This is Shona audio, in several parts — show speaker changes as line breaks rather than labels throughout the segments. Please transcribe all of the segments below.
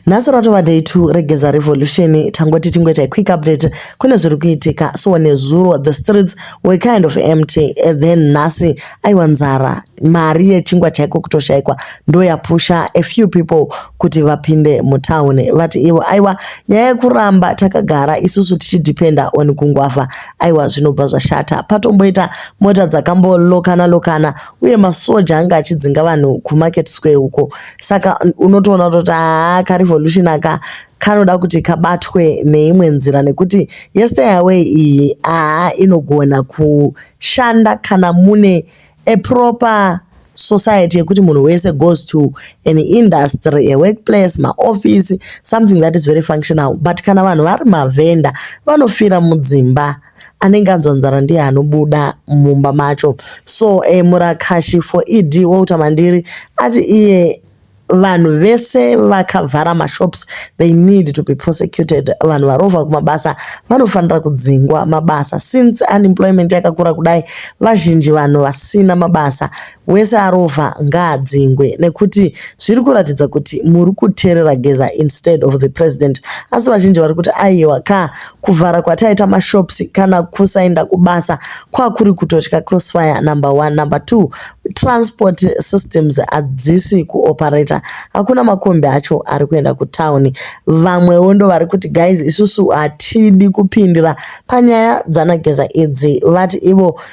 Nhasi ratova day two regeza revolution tangoti tingoita quick update kune zviri kuitika so nezuro the streets were kind of empty and then nhasi aiwa nzara mari yechingwa chaiko kutoshaikwa ndoyapusha a few people kuti vapinde mutown vati ivo aiwa nyaya yekuramba takagara isusu tichidependa on kungwafa aiwa zvinobva zvashata patomboita mota dzakambolokana lokana uye masoja anga achidzinga vanhu kumarket square uko saka unotoona kutoti haa karevolution aka kanoda kuti kabatwe neimwe nzira nekuti yestay away iyi haa inogona kushanda kana mune a proper society yekuti munhu wese goes to an industry a workplace maoffice something that is very functional but kana vanhu vari mavhenda vanofira mudzimba anenge anzwa nzara ndiye anobuda mumba macho so eh, murakashi for ed wouta mandiri ati iye vanhu vese vakavhara mashops they need to be prosecuted vanhu varovha kumabasa vanofanira kudzingwa mabasa since unemployment yakakura kudai vazhinji vanhu vasina mabasa Wese arova ngaadzingwe nekuti zviri kuratidza kuti muri kuterera Geza instead of the president. Asi vazhinji vari kuti aiwa kaa kuvhara kwataita mashops kana kusaenda kubasa kwakuri kutotya crossfire number one. Number two, transport systems hadzisi kuoperata. Hakuna makombi acho ari kuenda kutown. Vamwewo ndo vari kuti guys isusu hatidi kupindira panyaya dzana Geza idzi. Vati ivo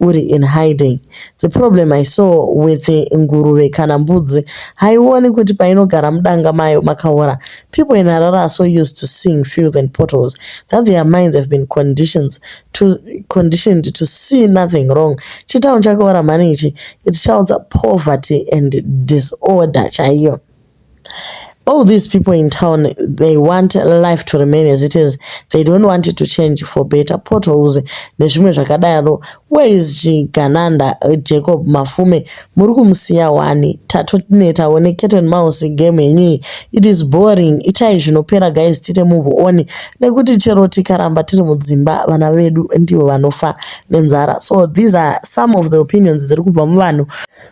uri in hiding. The problem I saw with nguruve kana mbudzi haioni kuti painogara mudanga mayo makaora. People in Harare are so used to seeing filth and potholes that their minds have been conditions to conditioned to see nothing wrong. Chitown chakaora mhani ichi. It shouts poverty and disorder chaiyo. All these people in town, they want life to remain as it is. They don't want it to change for better. Potholes nezvimwe zvakadaro. Where is Chigananda, uh, Jacob Mafume? Muri kumusiya wani? Tatonetawo necat and mouse game yenyu It is boring. Itai zvinopera guys tite move on. Nekuti chero tikaramba tiri mudzimba vana vedu ndivo vanofa nenzara. So these are some of the opinions dziri kubva muvanhu.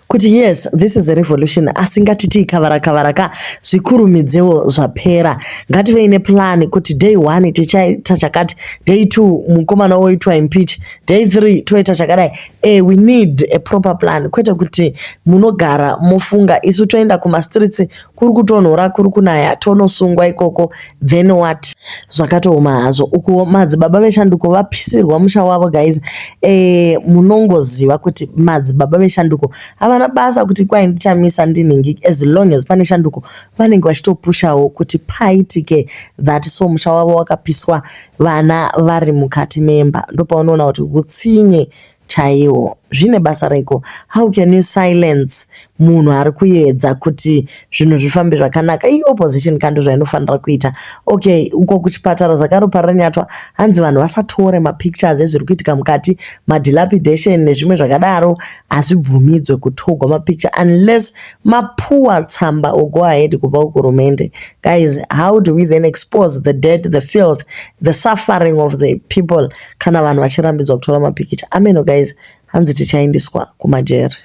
kuti yes this is a revolution asi ngatitii kavara kavara ka zvikurumidzewo zvapera ngativei neplan kuti day one tichaita chakati day two mukomana woitwa impeach day three toita chakadai e we need a proper plan kwete kuti munogara mofunga isu toenda kumastreets kuri kutonhora kuri kunaya tonosungwa ikoko then what zvakatooma hazvo uku madzibaba veshanduko vapisirwa musha wavo guys e, munongoziva kuti madzibaba veshanduko havana basa kuti kwai ndichamisa ndinhingi as long as pane shanduko vanenge vachitopushawo kuti paitike that so musha wavo wakapiswa vana vari mukati memba ndopaunoona kuti hutsinye chaiwo zvine basa reiko how can you silence munhu ari kuedza kuti zvinhu zvifambe zvakanaka iyi opposition kandi zvainofanira kuita okay uko kuchipatara zvakaropa ranyatwa hanzi vanhu vasatore mapictures ezviri kuitika mukati madilapidation nezvimwe zvakadaro hazvibvumidzwe kutogwa mapicture unless mapuwa tsamba or go ahead kubva kuhurumende guys how do we then expose the dead the filth the suffering of the people kana vanhu vachirambidzwa kutora mapikicha ameno guys hanzi tichaendiswa kumajeri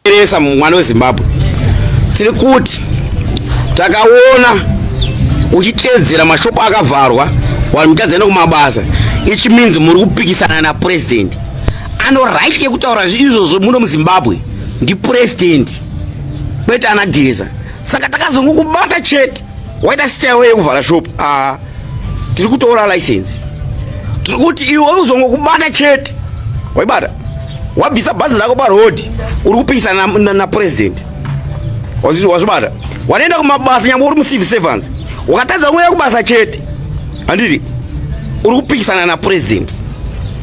teresa mwana
wezimbabwe tiri kuti takaona uchiteedzera mashopo akavharwa vanhu mutadzana kumabasa ichi means muri kupikisana napresident ano right yekutaura izvozvo muno muzimbabwe ndipresident kwete anageza saka takazongokubata chete waita style yekuvhara shop a ah. tiri kutora license tiri kuti iwe uzongokubata chete waibata wabvisa bhazi rako paroad uri kupikisana napresident wazvibata wanoenda kumabasa nyangwe uri mucivil servants wakatadza kungoenda kubasa chete handiti uri kupikisana napresident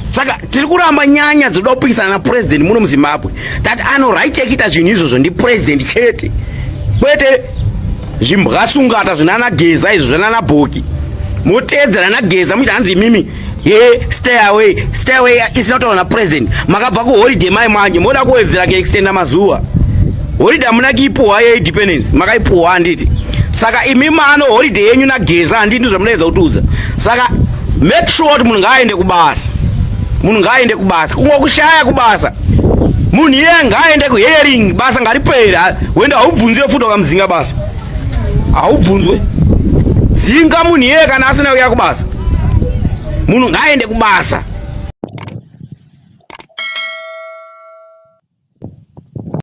saka tiri kuramba nyanya dzinoda kupikisana napresident muno muzimbabwe tati anoraitekuita zvinhu izvozvo ndipresident chete kwete zvimbwasungata zvinana geza izvo zvanana bhoki moteedzera nageza muita hanzi imimi ye stay away stay away isina kutaura napresident makabva kuholiday mai manje moda kuwedzera kuextenda mazuva holiday hamuna kiipuhwa yeindependence makaipuhwa handiti saka imi mano holiday yenyu nageza handii ndi zvamunoedza kutiudza saka make sure kuti munhu ngaaende kubasa munhu ngaaende kubasa kungokushaya kubasa munhu iye ngaaende kuhearing basa ngaripere wenda haubvunziwe futi wakamuzinga basa haubvunzwe dzinga munhu iye kana asina kuya kubasa munhu ngaaende kubasa